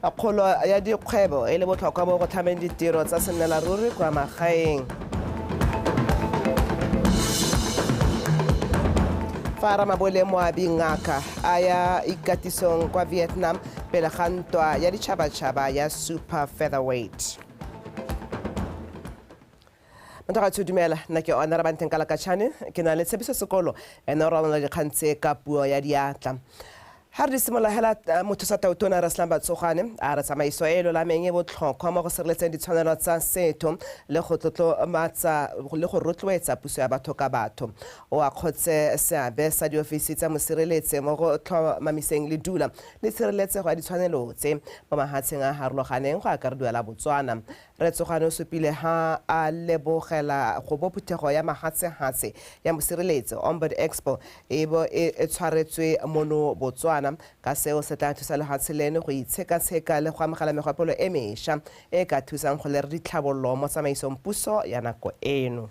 Kgolo ya dikgwebo e le botlhokwa mo go tlhameng ditiro tsa sennelaruri kwa magaeng. Fa Ramabole Moabi Ngaka a ya ikatisong kwa Vietnam pele ga ntwa ya ditšhabatšhaba ya Super Featherweight. Mothagatsho dumela nna ke ona rabanteng kalakatšhane ke na le tshepiso sekolo ene o ralana dikgang tse ka puo ya diatla ga re di simolola hela eh, motho sa tautona re selang batsogwane a re tsamaiso e e lolameng e botlhokwa mo go sireletseng ditshwanelo tsa setho le go tlotlomatsa le go rotloetsa puso ya batho ka batho o akgotse seabe sa diofisi tsa mosireletsi mo go tlhomamiseng le dula le tshireletsego ya ditshwanelo tse mo mahatsheng a harologaneng go akarediwa la botswana Rre Tsogane o supile ha a lebogela go bo phuthego ya mahatshehatshe ya mosireletsi, Ombud Expo, e bo e tshwaretswe mono Botswana, ka seo se tla thusa lehatshe leno go itshekatsheka le go amogela megopolo e mesha e e ka thusang go lera ditlhabololo mo tsamaisong puso ya nako eno.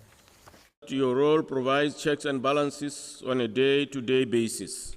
Your role provides checks and balances on a day-to-day basis.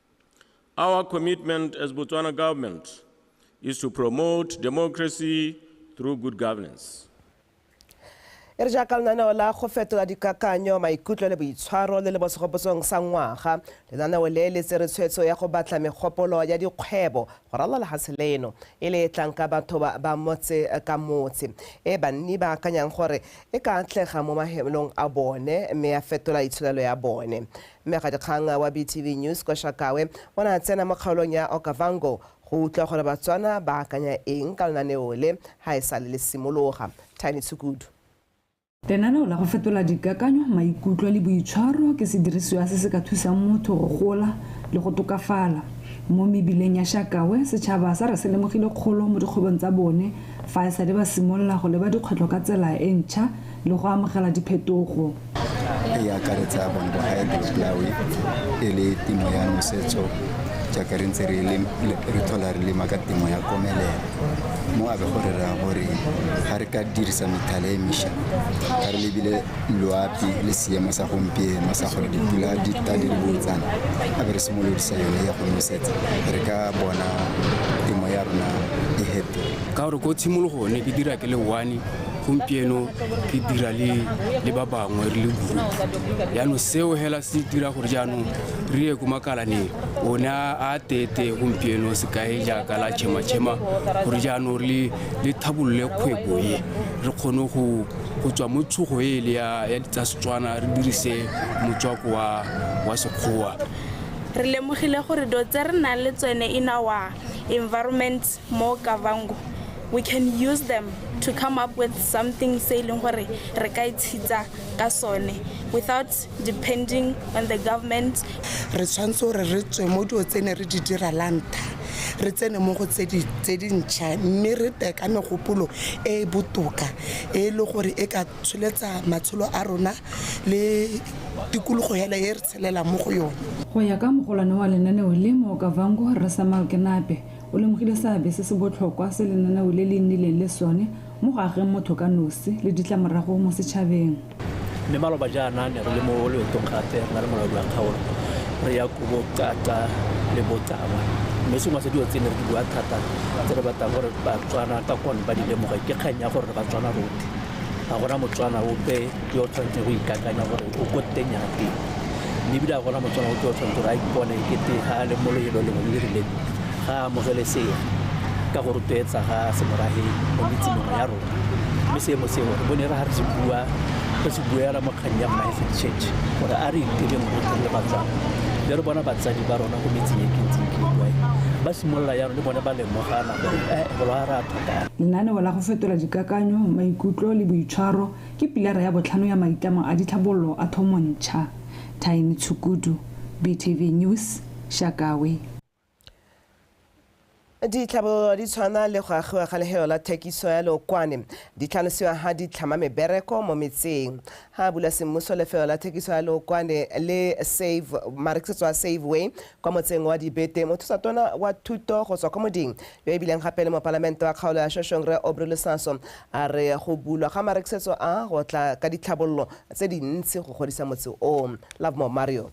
Our commitment as Botswana government is to promote democracy through good governance. e re jaaka lenaneo la go fetola dikakanyo maikutlo le boitshwaro le le mo segopotsong sa ngwaga lenaneo le le tsere tshwetso ya go batla megopolo ya dikgwebo go ralala lefatshe leno e le e tlang ka batho ba ba motse ka motse e banni ba akanyang gore e ka atlega mo mahemelong a bone mme ya fetola itsholelo ya bone Mmegadikgang wa BTV News kwa Shakawe o ne a tsena mo kgaolong ya Okavango go utlwa gore Batswana ba akanya eng ka lenaneo le ga e sale le simologa. Tiny Tshukudu. Lenaneo la go fetola dikakanyo, maikutlo le boitshwaro ke sedirisiwa se se ka thusang motho go gola le go tokafala. Mo mebileng ya Shakawe, setšhaba sa re se lemogile kgolo mo dikgwebong tsa bone fa e sale ba simolola go leba dikgwetlho ka tsela e ntšha le go amogela diphetogo. e akaretsa bone ba hydroplawe e le temo ya nosetso jaaka re ntse re tlhola re lema ka temo ya komelela mo a be go re raya gore ga re ka dirisa methala e mesha ga re lebile loapi le seemo sa gompieno sa gore dipula di ta di le botsana a be re simolodisa yone ya go nosetsa re ka bona temo ya rona e hete ka gore ko tshimologo ne ke dira ke le one gompieno ke dira le le ba bangwe re le group yaanong seo hela se dira gore jaanong re ye ko makalaneng o ne a tete gompieno sekae jaaka la chema-chema gore jaanong re le thabolole kgwebo e re kgone go tswa mo tshogo e le ya tsa setswana re dirise motswako wa sekgowa re lemogile gore do tse re nang le tsone in our environment Mo Kavango, we can use them to come up with something se e leng gore re ka itshitsa ka sone without depending on the government. Re tshwanetse gore re tswe mo dilo tse ne re di dira la ntlha re tsene mo go tse dintšha mme re tle ka megopolo e e botoka e e le gore e ka tsholetsa matshelo a rona le tikologo hela e re tshelelang mo go yone. Go ya ka mogolwane wa lenaneo le mo Okavango, Rre Samuel Kenape, O lemogile seabe se se botlhokwa se lenaneo le le nnileng le sone mo go ageng motho ka nosi le ditlamorago mo setšhabeng. Mme maloba jaana ne re le mo loetong gape re na le molaodi wa kgaolo re ya kubo Qaqa le Botama. Mme sengwe sa dilo tse ne re di bua thata tse re batlang gore Batswana ka kone ba di lemoge ke kgang ya gore re Batswana rotlhe, ga gona Motswana ope ke o tshwanetse go ikakanya gore o ko teng ya teng mme ebile a gona motswana o ke o tshwanetse gore a ipone ke te ga a le mo loelo lengwe le le rileng ga a amogele seo ka go rotloetsa ga semorage mo metseng mengwe ya rona mme seemo seo bo ne re ga re se bua re se buela mo kgang ya mmaefe church gore a re itireng gotlhe le batswana le re bona batsadi ba rona go metseng e kentseng ke bua ba simolola yalo le bone ba lemogana gore e bolo a re a tlhokang lenaneo la go fetola dikakanyo maikutlo le boitshwaro Ke pilara ya botlhano ya maitlamo a ditlhabololo a Thomontšha. Thaini Tshukudu, BTV News, Shakawe. Ditlhabololo di tshwana le go agiwa ga lehelo la thekiso ya leokwane di tlhalosiwa ha di tlhama mebereko mo metseng. Ha bula semmuso lefelo la thekiso ya leokwane le Save marekisetso a Save Way kwa motseng wa Dibete mothusatona wa thuto go tswa kwa Moding yo e bileng gape le mopalamente wa kgaolo ya Shoshong Rre Aubrey Lusaso a re go bulwa ga marekisetso a go tla ka ditlhabololo tse dintsi go godisa motse o. Lovemore Mario.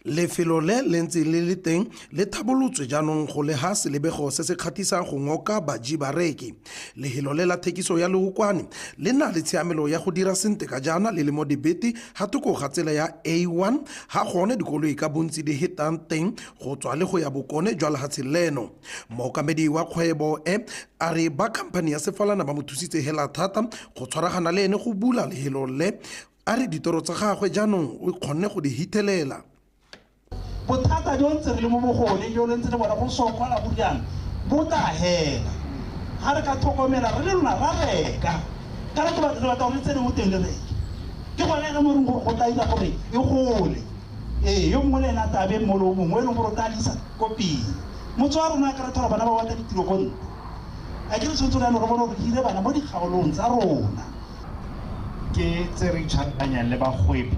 Lefelo le le ntseng le le teng le thabolotswe jaanong go le ha selebego se se kgatisa go ngoka baji bareki. Lehelo le la thekiso ya leokwane le na le tshiamelo ya go dira sente ka jaana le le mo dibete ga thoko ga tsela ya A1 ga gone dikoloi ka bontsi di hetang teng go tswa le go ya bokone jwa lehatshe leno. Mookamedi wa kgwebo e a re ba khamphani ya sefalana ba mo thusitse hela thata go tshwaragana le ene go bula lehelo le a re ditoro tsa gagwe jaanong o kgonne go di hithelela. bothata jo ntse re le mo bogone jo le ntse le bona go sokola go riana bo tla hela ga re ka tlhokomela re le lona ra reka ka re batla re batla gore tsene mo teng le reke ke gone re mo reng gore go tla dira gore e gole ee yo mongwe le ena tabe mmolo o mongwe e leng gore o tla disa ko pele motse wa rona ka re thola bana ba batla ditiro ko ntle a ke re tshwanetse reyano re bone gore hire bana mo dikgaolong tsa rona ke tse re itshwaranyang le bagwebi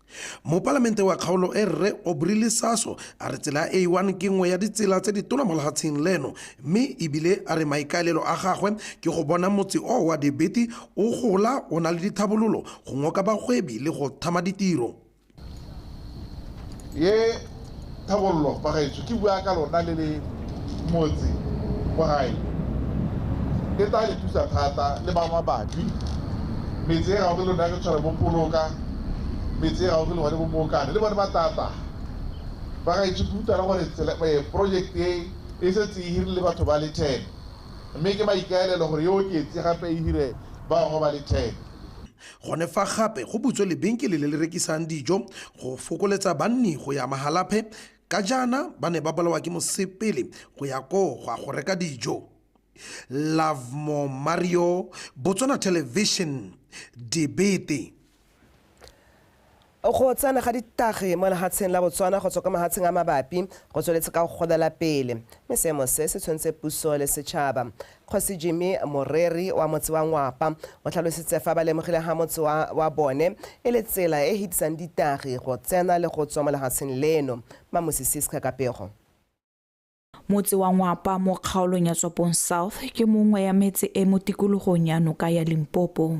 Mopalamente wa kgaolo e Rre Aubrey Lisaso a re tsela ya A1 ke nngwe ya ditsela tse di tona mo lehatsheng leno mme ebile a re maikaelelo a gagwe ke go bona motse oo wa Debeti o gola o na le dithabololo go ngoka bagwebi le go thama ditiro. Thebollo bagaetsho ke bua ka lona le le motse kwa gae. E tla le thusa thata le ba mabapi. Metse e gaufi lona ke tshwana bo Poloka, metse e gaufi le gone bo Mookane le bone ba tla tla. Bagaetsho ke utlwa le gore project e e setse e hirile batho ba le ten mme ke maikaelelo gore e oketse gape e hire bangwe ba le ten. Gone fa gape go butswe lebenkele le le rekisang dijo go fokoletsa banni go ya Mahalapye ka jaana ba ne ba bolawa ke mosepele go ya koo go a go reka dijo. Lovemore Mario, Botswana Television, Dibete. Go tsena ga ditagi mo lehatsheng la Botswana go tswa kwa mahatsheng a mabapi go tsweletse ka go golela pele, mme seemo se se tshwentse puso le setšhaba. Kgosi Jimmy Moreri wa motse wa Ngwapa o tlhalositse fa ba lemogile ha motse wa wa bone e le tsela e e hetisang ditagi go tsena le go tswa mo lehatsheng leno. Mmamosi Siska Kapego. Motse wa Ngwapa mo kgaolong ya Tswapong South ke mongwe ya metse e mo tikologong ya noka ya Limpopo.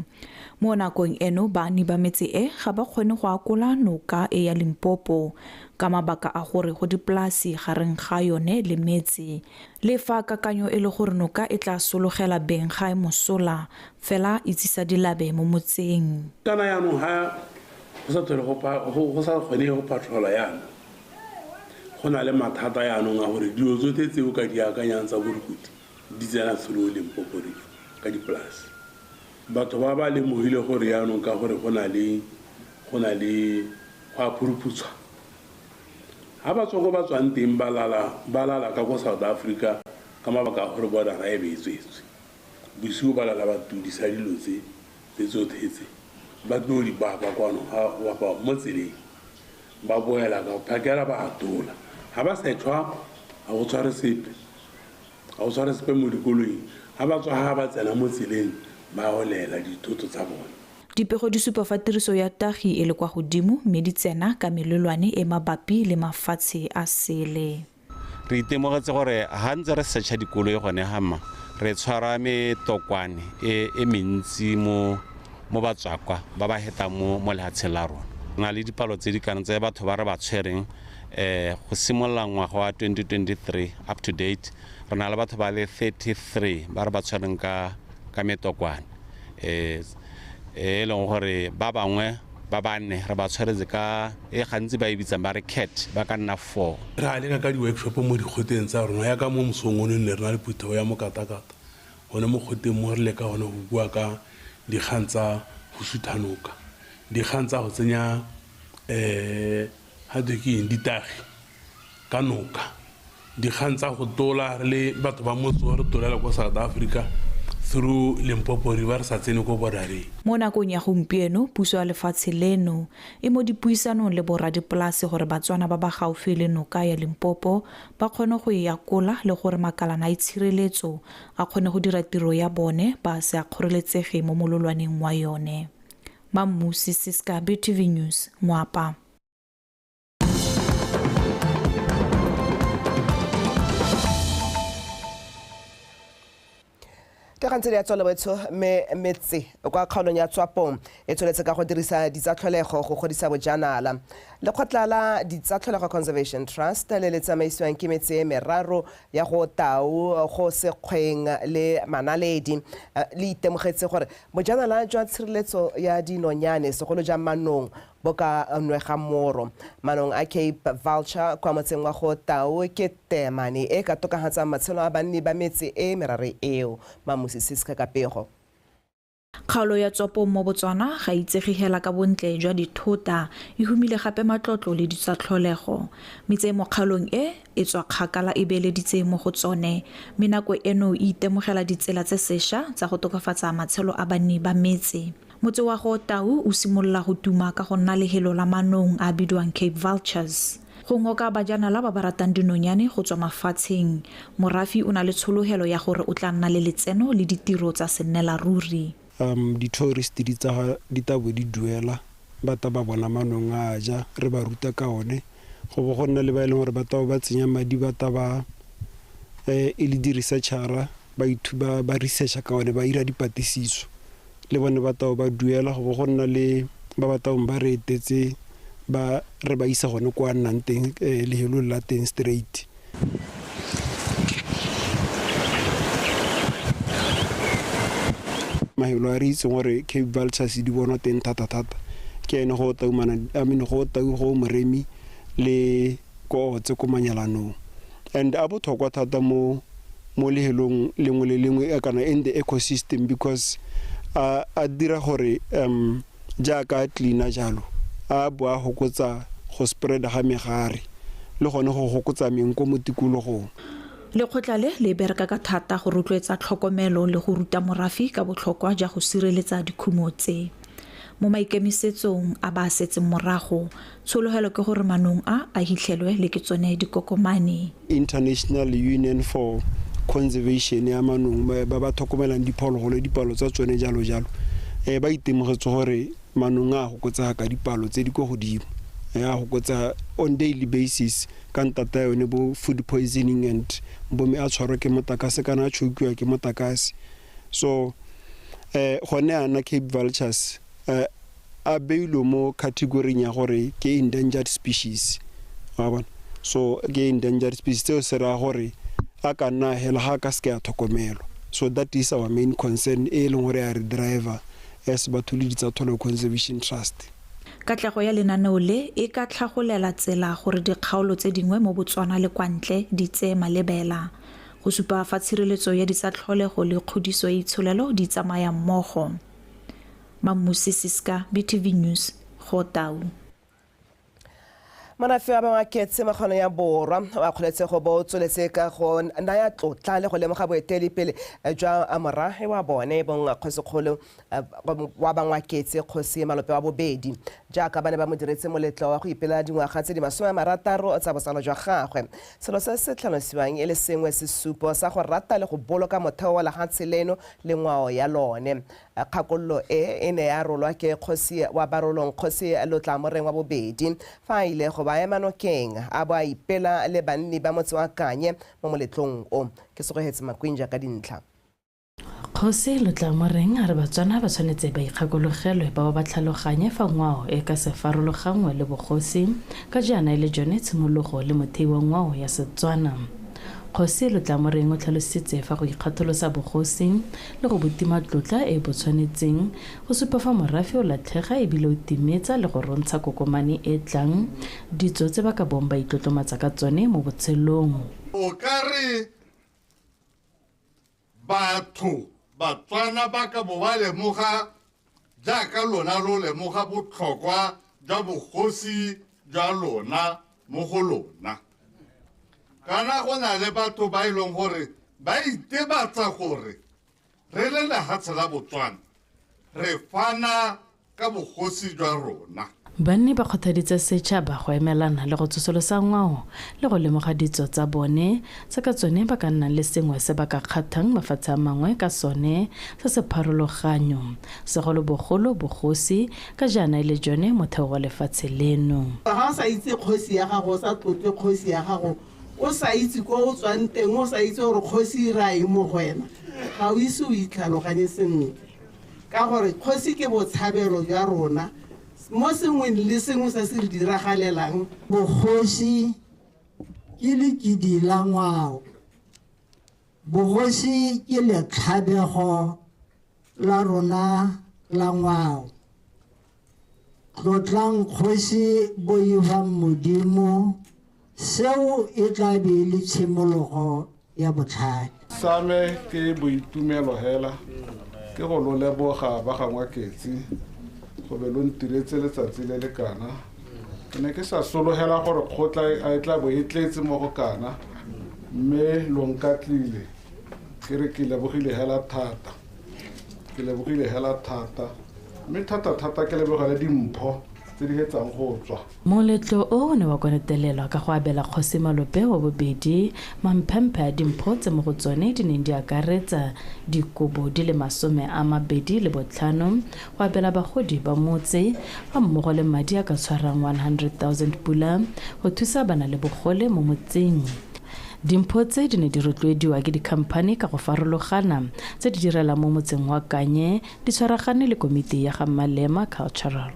Mo nakong eno baani ba metse e ga ba kgone go akola noka e ya Limpopo ka mabaka a gore go dipolasi gareng ga yone le metse. Le fa kakanyo e le gore noka e tla sologela beng ga e mosola, fela e tsisa dilabe mo motseng. Kana yanong ga go sa tlhole go sa kgonege go patrola yana. go na le mathata yaanong a gore dilo tsotlhe tse o ka di akanyang tsa borukuti di tsena through limpopo region ka dipolase batho ba ba lemogile gore yaanong ka gore go na le go na le go a phuruphutswa ga ba tswa ko ba tswang teng ba lala ka ko south africa ka mabaka a gore bodara e be e tswetswe Bosigo ba lala ba tudisa dilo tse, tse tsotlhe tse, ba tlo di baka kwano ga wa kwa mo tseleng. Ba boela ka phakela ba atola. Ga ba setlhwa ga go tshware sepe. Ga go tshware sepe mo dikoloing. Ga ba tswa ga ba tsena mo tseleng ba olela dithoto tsa bone. Dipego di supa fa tiriso ya tagi e le kwa godimo mme di tsena ka melelwane e mabapi le mafatshe a sele. Re itemogetse gore ga ntse re search-a dikoloi gone ga mma re tshwara metokwane e, e mentsi mo mo batswakwa ba ba hetang mo mo lehatsheng la rona na le dipalo tse di kana tse batho ba re ba tshwereng eh go simolola ngwaga wa 2023 up to date re na le batho ba le 33 ba re ba tshwereng ka ka metokwane eh e leng gore ba bangwe ba banne re ba tshwaretse ka e gantsi ba e bitsang ba re cat ba ka nna four re a leka ka di-workshop mo dikgoteng tsa rona ya ka mo mosong o ne ne re na le phuthago ya mokatakata gone mo kgoteng mo re leka gone go bua ka dikgang tsa go suthanoka dikgang tsa go tsenya um Ga twe ke eng? Ditagi ka noka. Dikgang tsa go tola re le batho ba motse re tolela ko South Africa through Limpopo River re sa tsene ko bordereng. Mo nakong ya gompieno, puso ya lefatshe leno e mo dipuisanong le borra dipolase gore Batswana ba ba gaufi le noka ya Limpopo ba kgone go e yakola le gore makalana a itshireletso a kgone go dira tiro ya bone ba se a kgoreletsege mo mololwaneng wa yone. Mammusi Siska BTV News Moapa. ke gantse di ya tswalo betsho me metse kwa kgaolong ya tswapong e tsweletse ka go dirisa ditsatlholego go godisa bojanala lekgotla la ditsatlholego conservation trust le le tsamaisiwang ke metse e meraro ya go tau go sekgweng le manaledi eh, le itemogetse gore Bojanala jwa tshireletso ya dinonyane, segolo jang manong, bo ka nwega moro. Manong a Cape Vulture kwa motseng wa Go Tau ke teemane e e ka tokafatsang matshelo a banni ba metse e e merare eo. Mamusi Siska ka pego. Kgaolo ya Tsopong mo Botswana ga e itsege hela ka bontle jwa dithota, e humile gape matlotlo le ditsatlholego. Metse e mo kgaolong e, e tswa kgakala e beeleditse mo go tsone mme nako eno e itemogela ditsela tse sesha tsa go tokafatsa matshelo a banni ba metse. Motse wa go Tau o simolola go tuma ka go nna lehelo la manong a a bidiwang Cape Vultures. Go ngoka bajanala ba ba ratang dinonyane go tswa mafatsheng, morafi o na le tshologelo ya gore o tla nna le letseno le ditiro tsa sennelaruri. Um, di-tourist di tsa di tabo di duela ba ta ba bona manong a a ja re ba ruta ka one go bo go nna le ba e leng gore ba tabo ba tsenya madi ba ta ba um e le di-researchara ba ithuba ba researcha ka one ba ira dipatlisiso le bone ba tabo ba duela go bo go nna le ba ba tabong ba re etetse ba re ba isa gone kwa a nnang teng um lehelong la teng straight mahelo a re itseng gore cape vultures di bonwa teng thata-thata ke ene go taumana i mean go tau go moremi le koo tse ko manyalanong and a botlhokwa thata mo mo lehelong lengwe le lengwe kana in the ecosystem because a a dira gore um jaaka a cleaner jalo a bo a hokotsa go spread-a ga megare le gone go hokotsa meng ko mo tikologong. Lekgotla le le bereka ka thata go rotloetsa tlhokomelo le go ruta morafi ka botlhokwa ja go sireletsa dikhumo tse mo maikemisetsong a ba a setseng morago, Tshologelo ke gore manong a a hitlhelwe le ke tsone dikokomane. International Union for Conservation ya manong ba ba tlhokomelang diphologolo, dipalo tsa tsone jalo jalo, um ba itemogetse gore manong a gokotsega ka dipalo tse di ko godimo. A gokotsa on daily basis ka ntata yone bo food poisoning and bomme a tshwarwa ke motakase kana a chokiwa ke motakase. So um gone ana Cape Vultures um a beilwe mo category-ing ya gore ke endangered species wa bona so ke endangered species tseo se raya gore a ka nna hela ga ka seke a tlhokomelwa so that is our main concern e leng gore a re driver as batho le ditsatholo conservation trust Katlego ya lenaneo le e ka tlhagolela tsela gore dikgaolo tse dingwe mo Botswana le kwa ntle di tseye malebela go supa fa tshireletso ya ditsatlholego le kgodiso ya itsholelo di tsamaya mmogo. Mamusi Siska, BTV News, go Tau. Morafe wa Mawaketse wa kgono ya borwa o akgoletse go bo o tsweletse ka go naya tlotla le go lemoga boeteledipele jwa morafe wa bone bong kgosikgolo wa Bangwaketse kgosi Malope wa bobedi jaaka ba ne ba mo diretse moletlo wa go ipela dingwaga tse di masome a marataro tsa botsalo jwa gagwe. Selo se se tlhalosiwang e le sengwe sesupo sa go rata le go boloka motheo wa lehatshe leno le ngwao ya lone. Kgakololo e e ne ya rolwa ke kgosi wa Barolong Kgosi Lotlamoreng wa Bobedi fa a ile go ba ema nokeng a bo a ipela le banni ba motse wa Kanye mo moletlong o. Ke Segogetse Makwinja ka dintlha. Kgosi Lotlamoreng a re Batswana ba tshwanetse ba ikgakologelwe ba bo ba tlhaloganye fa ngwao e ka se farologanngwe le bogosi ka jaana e le jone tshimologo le mothei wa ngwao ya Setswana. Kgosi Lotlamoreng o tlhalositse fa go ikgatholosa bogosi le go botima tlotla e bo tshwanetseng go supa fa morafe o latlhega ebile o timetsa le go rontsha kokomane e tlang ditso tse ba ka bong ba itlotlomatsa ka tsone mo botshelong. O ka re batho Batswana ba ka bo ba lemoga jaaka lona lo lemoga botlhokwa jwa bogosi jwa lona mo go lona kana go na le batho ba e leng gore ba itebatsa gore re le lehatshe la botswana re fana ka bogosi jwa rona Banni ba kgothaditse setšhaba go emelana le go tsosolosa ngwao le go lemoga ditso tsa bone, tse ka tsone ba ka nnang le sengwe se ba ka kgathang mafatshe a mangwe ka sone se se pharologanyo, segolobogolo bogosi, ka jaana e le jone motheo wa lefatshe leno. Fa o sa itse kgosi ya gago, o sa tlotle kgosi ya gago, o sa itse ko o tswang teng, o sa itse gore kgosi e raya eng mo go wena, ga o ise o itlhaloganye sentle. Ka gore kgosi ke botshabelo jwa rona mo sengweng le sengwe se se re diragalelang. Bogosi ke lekidi la ngwao. Bogosi ke letlhabego la rona la ngwao. Tlotlang Kgosi Boibang Modimo, seo e tla be e le tshimologo ya botlhale. Same ke boitumelo hela ke go lo leboga ba ga Ngwaketsi go be lo ntiretse letsatsi le le kana. Ke ne ke sa sologela gore kgotla e e tla bo e tletse mo go kana mme lo nkatlile ke re ke lebogile hela thata. ke lebogile hela thata mme thata-thata ke lebogele dimpho tse di hetsang go tswa moletlo o o ne wa konetelelwa ka go abela kgosi malope wa bobedi mamphemphe a dimpho tse mo go tsone di neng di akaretsa dikobo di le masome a mabedi le botlhano go abela bagodi ba motse ga mmogo le madi a ka tshwarang 100,000 pula go thusa bana le bogole mo motseng Dimpho tse di ne di rotloediwa ke dikhamphani ka go farologana tse di direlang mo motseng wa Kanye di tshwaragane le komiti ya ga Malema Cultural.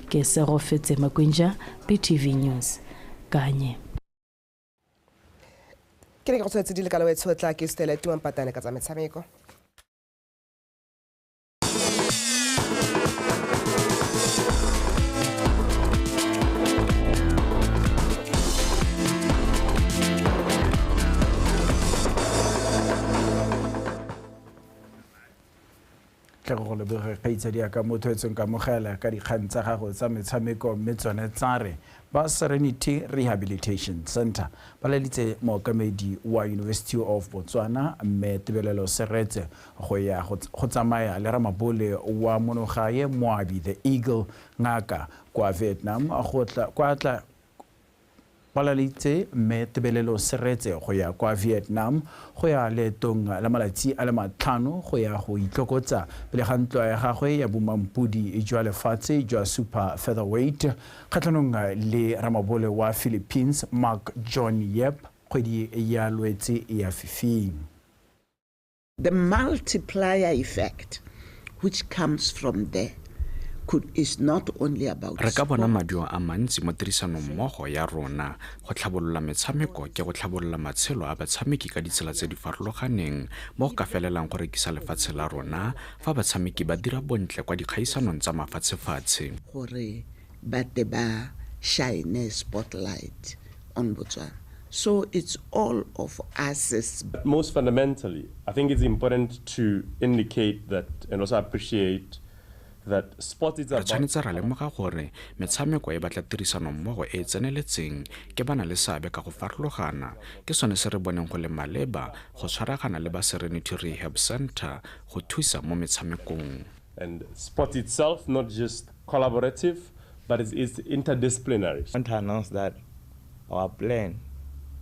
Ke Segofetse Makwinja, BTV News, Kanye. Ke ne ke go tshwetse di le ka lawetshotla ke Stella Tuampatane ka tsa metshameko. tle go leboge kgaitsadi ya ka motho e tsweng ka mogela ka dikgang tsa gago tsa metshameko mme tsone tsa re ba serenity rehabilitation center ba leditse mookamedi wa university of botswana mme tebelelo seretse Go ya go tsamaya le ramabole wa monogae Moabi the Eagle Ngaka kwa Vietnam go tla kwa tla palalitse Mme Tebelelo Seretse go ya kwa Vietnam go ya leetong la malatsi a le matlhano go ya go itlokotsa pele ga ntwa ya gagwe ya bomampodi jwa lefatshe jwa super featherweight kgatlhanong le ramabole wa Philippines Mark John Yep kgwedi ya Lwetse ya fifing. The multiplier effect which comes from there could, is not only about re ka bona maduo a mantsi mo tirisanong mmogo ya rona go tlhabolola metshameko ke go tlhabolola matshelo a batshameki ka ditsela tse di farologaneng mo go ka felelang go rekisa lefatshe la rona fa batshameki ba dira bontle kwa dikgaisanong tsa mafatshefatshe gore ba te ba shine spotlight on Botswana so it's all of us. But most fundamentally I think it's important to indicate that and also appreciate that sports it's about. Re tshwanetse ra lemoga gore metshameko e batla tirisano mmogo e e tseneletseng ke ba na le seabe ka go farologana, ke sone se re boneng go le maleba go tshwaragana le ba Serenity Rehab Centre go thusa mo metshamekong. And sport itself, not just collaborative, but it's, it's interdisciplinary. I want to announce that our plan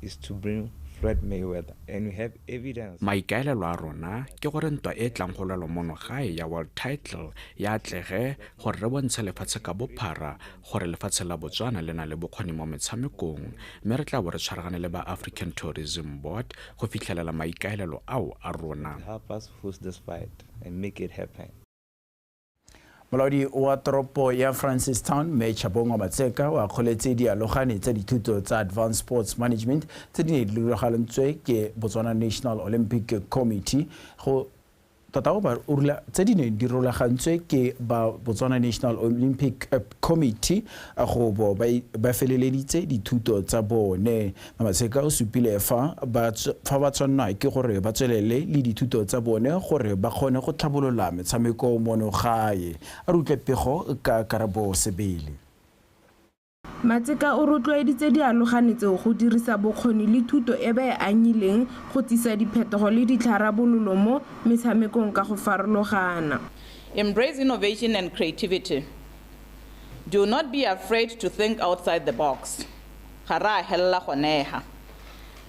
is to bring Floyd Mayweather and we have evidence. Maikaelelo a rona ke gore ntwa e tlang go lwelwa mono gae ya world title ya atlege gore re bontshe lefatshe ka bophara gore lefatshe la Botswana le na le bokgoni mo metshamekong mme re tla bo re tshwaragane le ba African Tourism Board go fitlhelela maikaelelo ao a rona. Help us host this fight. and make it happen. Molaodi wa toropo ya Francistown, Mme Chabongwa Matseka, o akgoletse dialogane tsa dithuto tsa Advanced Sports Management tse di ne di rulagalantswe ke Botswana National Olympic Committee go tota o ba urula tse di neng di rulagantswe ke ba Botswana National Olympic Committee go bo ba feleleditse dithuto tsa bone Maseka o supile fa ba fa ba tshwanelwa ke gore ba tswelele le dithuto tsa bone gore ba kgone go tlhabolola metshameko mono gae. A re utlwe pego ka Karabo Sebele. Matseka o rotloeditse dialogane tseo go dirisa bokgoni le thuto e ba e anyileng go tsisa diphetogo le ditlharabololo mo metshamekong ka go farologana. Embrace innovation and creativity, do not be afraid to think outside the box. Ga re a helela goneha.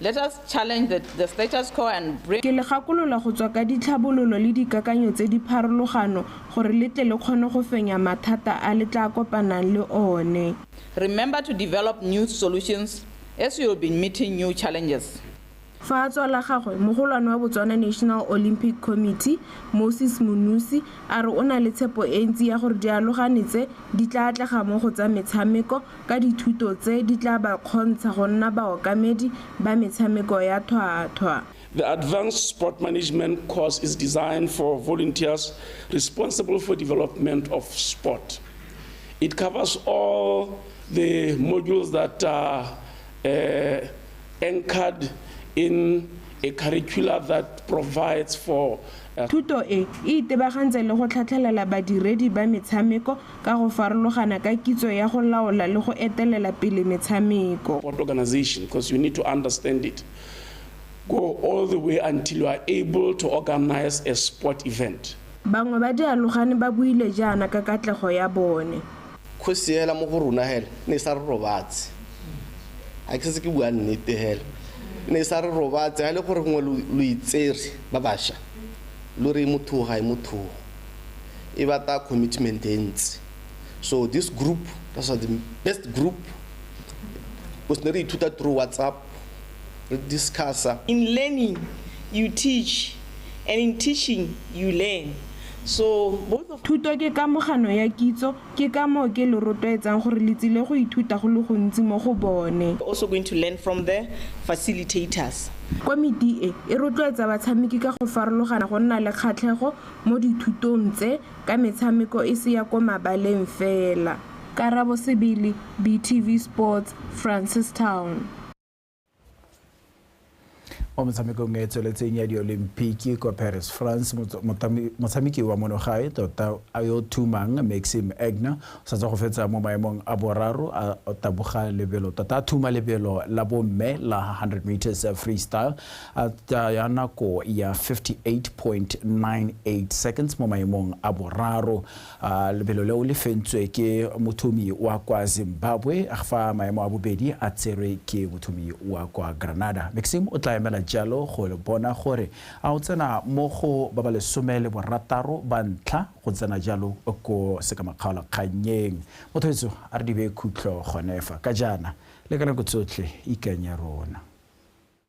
Let us challenge the the status quo and bring. Ke le gakolola go tswa ka ditlhabololo le dikakanyo tse di pharologano gore le tle le kgone go fenya mathata a le tlaa kopanang le one. Remember to develop new solutions as you will be meeting new challenges. Fa a tswa la gagwe, mogolwane wa Botswana National Olympic Committee, Moses Monusi, a re o na le tshepo e ntsi ya gore dialogane tse di tla atlega mo go tsa metshameko ka dithuto tse di tla ba kgontsha go nna baokamedi ba metshameko ya thwathwa. The Advanced Sport Management course is designed for volunteers responsible for development of sport. It covers all the modules that are uh, anchored in a curricula that provides for a Thuto e e itebagantse le go tlhatlhelela badiredi ba metshameko ka go farologana ka kitso ya go laola le go etelela pele metshameko. sport organization because you need to understand it go all the way until you are able to organize a sport event. Bangwe ba dialogane ba buile jaana ka katlego ya bone. Kgosi hela mo go rona hela ne e sa re robatse a ke setse ke bua nnete hela ne e sa re robatse ga e le gore gongwe lo itsere ba basha lo re motho ga e motho e batla commitment e ntsi so this group that's the best group o se ne re ithuta through whatsapp re discussa. In learning you teach and in teaching you learn so both of. Thuto ke kamogano ya kitso, ke ka moo ke lo rotloetsang gore le tsile go ithuta go le gontsi mo go bone. Also going to learn from the facilitators. Komiti e e rotloetsa batshameki ka go farologana go nna le kgatlhego mo dithutong tse ka metshameko e se ya ko mabaleng fela. Karabo Sebele, BTV Sports, Francistown. Mo metshamekong e e tsweletseng ya diolimpiki kwa Paris, France, motshameki wa monogae tota a yo thumang Maxime Egner o sa tswa go fetsa mo maemong a boraro a taboga lebelo tota a thuma lebelo la bomme la 100 meters freestyle at ya nako ya 58.98 seconds mo maemong a boraro lebelo leo le fentswe ke mothomi wa kwa zimbabwe fa maemo a bobedi a tserwe ke mothomi wa kwa granada maxim o tla emela jalo go bona gore a o tsena mo go ba ba lesome le borataro ba ntlha go tsena jalo ko sekamakgaolakgannyeng motho etso a re dibe khutlo gonefa ka jaana le ka nako tsotlhe ikanye rona